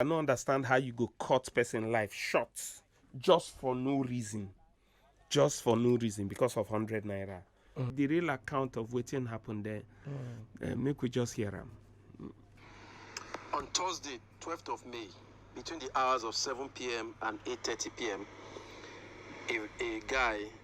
I no understand how you go cut person life short just for no reason. Just for no reason because of 100 naira. Mm. The real account of wetin happen there, mm. uh, make we just hear am. On Thursday, 12th of May, between the hours of 7 p.m. and 8.30 p.m., a, a guy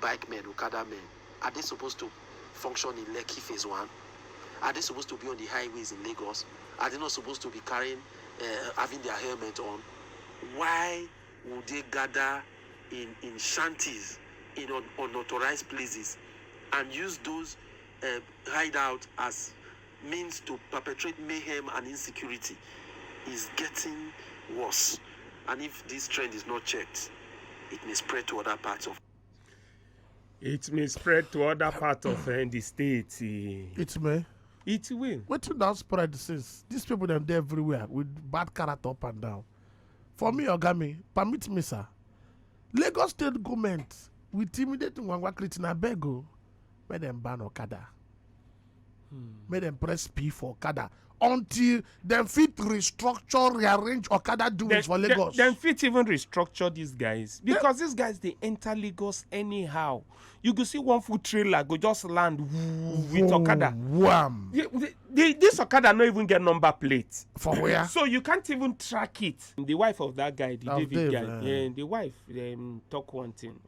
bike men, okada men, are dey suppose to function in Lekki phase one? Are dey suppose to be on di highways in Lagos? Are dey not suppose to be carrying um having dia helmet on? Why would dey gada in in shanties in un unauthorized places and use those um hideout as means to perpetrate mayhem and insecurity is getting worse and if this trend is not checked it may spread to other parts of It may spread to other parts of uh, the state. eh. It may. It will. Wetin don spread since? These people dem dey everywhere with bad character up and down. For me, oga mi, permit me sir. Lagos state goment we intimidate Ngwangwa Christian abeg o. make dem ban okada make dem press p for okada until dem fit restructure rearrange okada doings for lagos Dem fit even restructure these guys because these guys dey enter Lagos anyhow. You go see one full trailer go just land woo, with Okada. wham The- the- the- This Okada no even get number plate. for where So you can't even track it. The wife of that guy, the Of David Dave, guy, eh. eh, the wife um, talk one thing.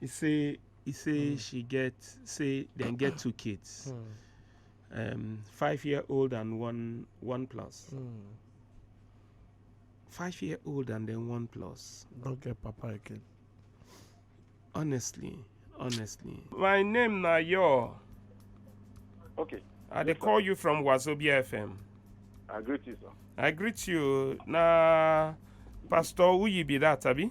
He say he say she get say dem get two kids, um, five year old and one one plus. Five year old and then one plus. Don't get papa again. Honestly, honestly. My name na your. Okay. I dey call you from Wazobia FM. I greet you, sir. I greet you. Na Pastor Uyi be that, abi?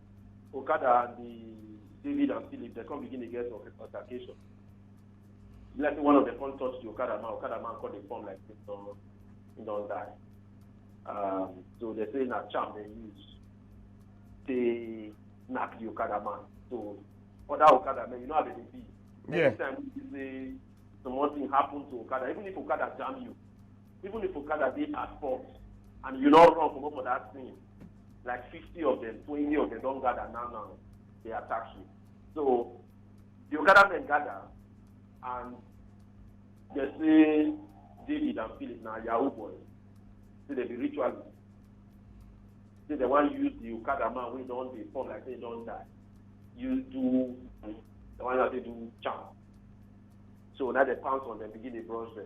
Okada and the David and Philip, they come begin to get altercation. Like one of them come touch the Okada man, Okada man call the form like this, so he don't die. Um, so they say na charm they use. They knock the Okada man. So other Okada man, you know how they be. Yeah. Every time you say something happen to Okada, even if Okada jam you, even if okada dey at fault and you no run comot for that thing like fifty of them twenty of them don gather now now dey attack you so the okada men gather and they say david and philip na yahoo boys say they be ritualists say they wan use the okada man wey don dey form like say he don die use do the one wey dey do charm so na dey pounce on them begin dey brush them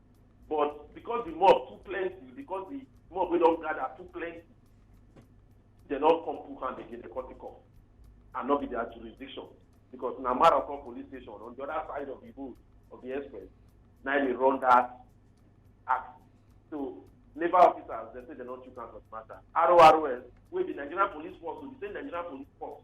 but because the mob too plenty because the mob wey don gather too plenty they don come put hand again they come take off and no be their jurisdiction because na marathon police station on the other side of the road of the express na im dey run that act so labour officers dem say dem don chook hand for the matter RORS wey be nigerian police force o the same nigerian police force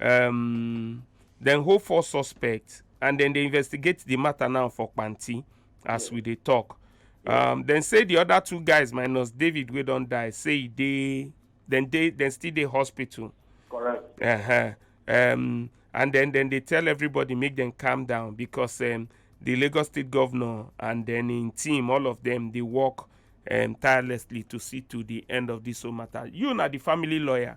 um, dem hold four suspects and then they investigate the matter now for panti as we dey talk um, dem say the other two guys minus david wey don die say e dey dem dey dem still dey hospital Correct. uh-huh. um, and then then they tell everybody make them calm down because um, the lagos state governor and then im team all of them dey work um, tirelessly to see to the end of this whole matter you na the family lawyer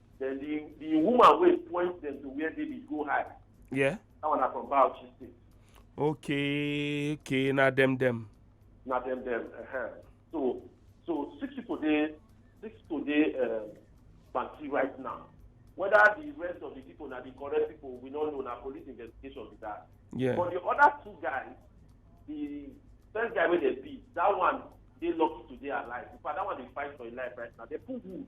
Then the the woman wey point them to where David go hide. Yeah. That one na from Bauchi state. Okay, okay, na dem dem. Na dem dem. Uh-huh. So so six people dey six people dey um, Bansi right now. Whether the rest of the people na the correct people we no know na police investigation be that. Yeah. But the other two guys, the first guy wey dey beat, that one dey lucky to dey alive. In fact, that one dey fight for im life right now. They put wood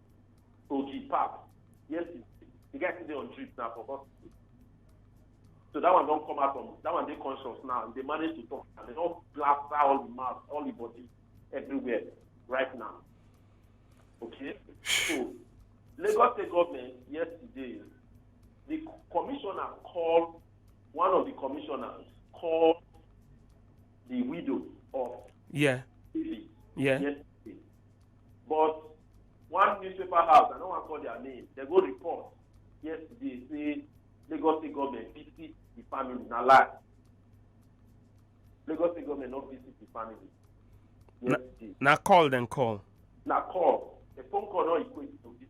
Oji Pap. Yes, he- the guy still dey on drip now for hospital. So that one don come out from that one dey conscious now. He dey manage to talk and they don plaster all the mouth, all the body, everywhere right now. Okay, so Lagos State government yesterday, the co- commissioner called one of the commissioners called the widow of Yeah. David Yeah. yesterday but one newspaper house i no wan call their name dem go report yesterday say lagos state government visit the family na lie lagos state government no visit the family yesterday na call dem call na call a phone call no equate to visit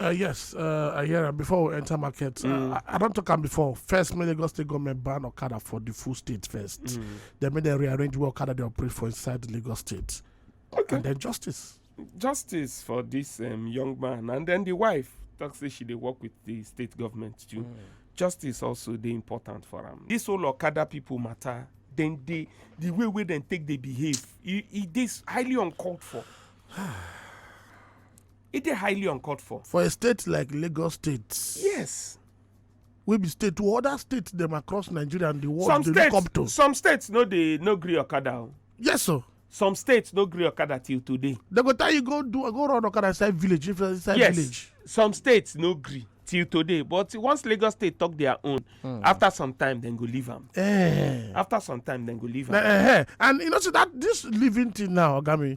Uh, yes, uh, I hear am before we enter market. Mm. Uh, I, I don talk am before. First, make Lagos State government ban Okada for the full state first. Mm. Then make dem rearrange where Okada dey operate for inside the Lagos State. Okay. And then justice. Justice for this um, young man and then the wife talk say she dey work with the state government too. Mm. Justice also dey important for am. This whole Okada people matter then they the way wey dem take dey behave e e dey highly uncalled for. e dey highly uncalled for for a state like lagos state yes wey be state to other states dem across nigeria and the world some dey look states up to some states no dey no gree okada o yes sir some states no gree okada till today dem go tell you go do go run okada inside village if inside yes village some states no gree till today but once lagos state talk their own hmm. after some time dem go leave am eh. after some time dem go leave am eh, eh. and you know say that this living thing now ogami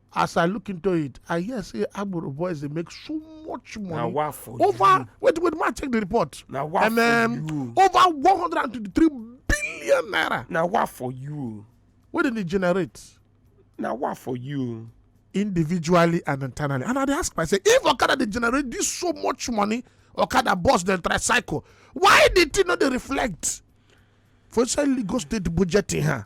as i look into it i hear say agboro boys dey make so much money wa for you over wait wait ma check the report na wa and um, for you over one hundred and twenty-three billion naira na wa for you wey dem dey generate na wa for you individually and internally and i dey ask myself if okada dey generate this so much money okada bus dem tricycle why the thing no dey reflect for inside lagos state budget in her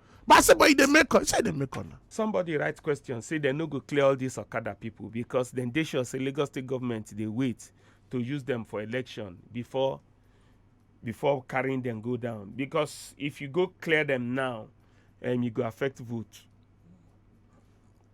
but i say but e dey make call say e dey make call na. somebody write question say dem no go clear all these okada people because dem dey sure say lagos state government dey wait to use them for election before before carrying them go down because if you go clear them now um, e go affect vote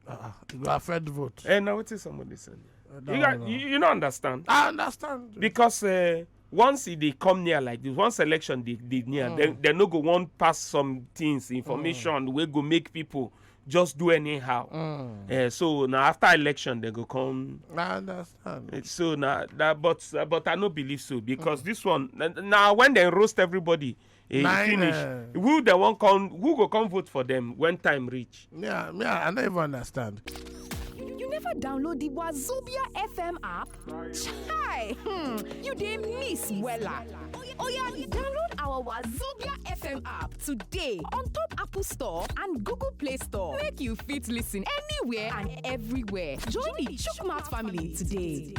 Uh, you go affect vote. Hey, eh, now what is somebody saying? Uh, no, you, got, no. You, you don't understand. I understand. Because uh, once they come near like this once election dey dey near mm. dem dem no go wan pass some things information mm. wey go make people just do anyhow mm. uh, so na after election dem go come i understand eh, so na that but uh, but i no believe so because mm. this one na when dem roast everybody e Nine, finish eh. who dem wan come who go come vote for dem when time reach. Yeah, me, I I don't even understand. You never download the Wazobia FM app? Chai! Hmm, you dey miss wella. Oya, download our Wazobia FM app today on top Apple Store and Google Play Store. Make you fit listen anywhere and everywhere. Join the Chukmat family today.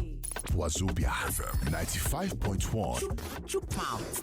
Wazobia FM 95.1. Chukmouth.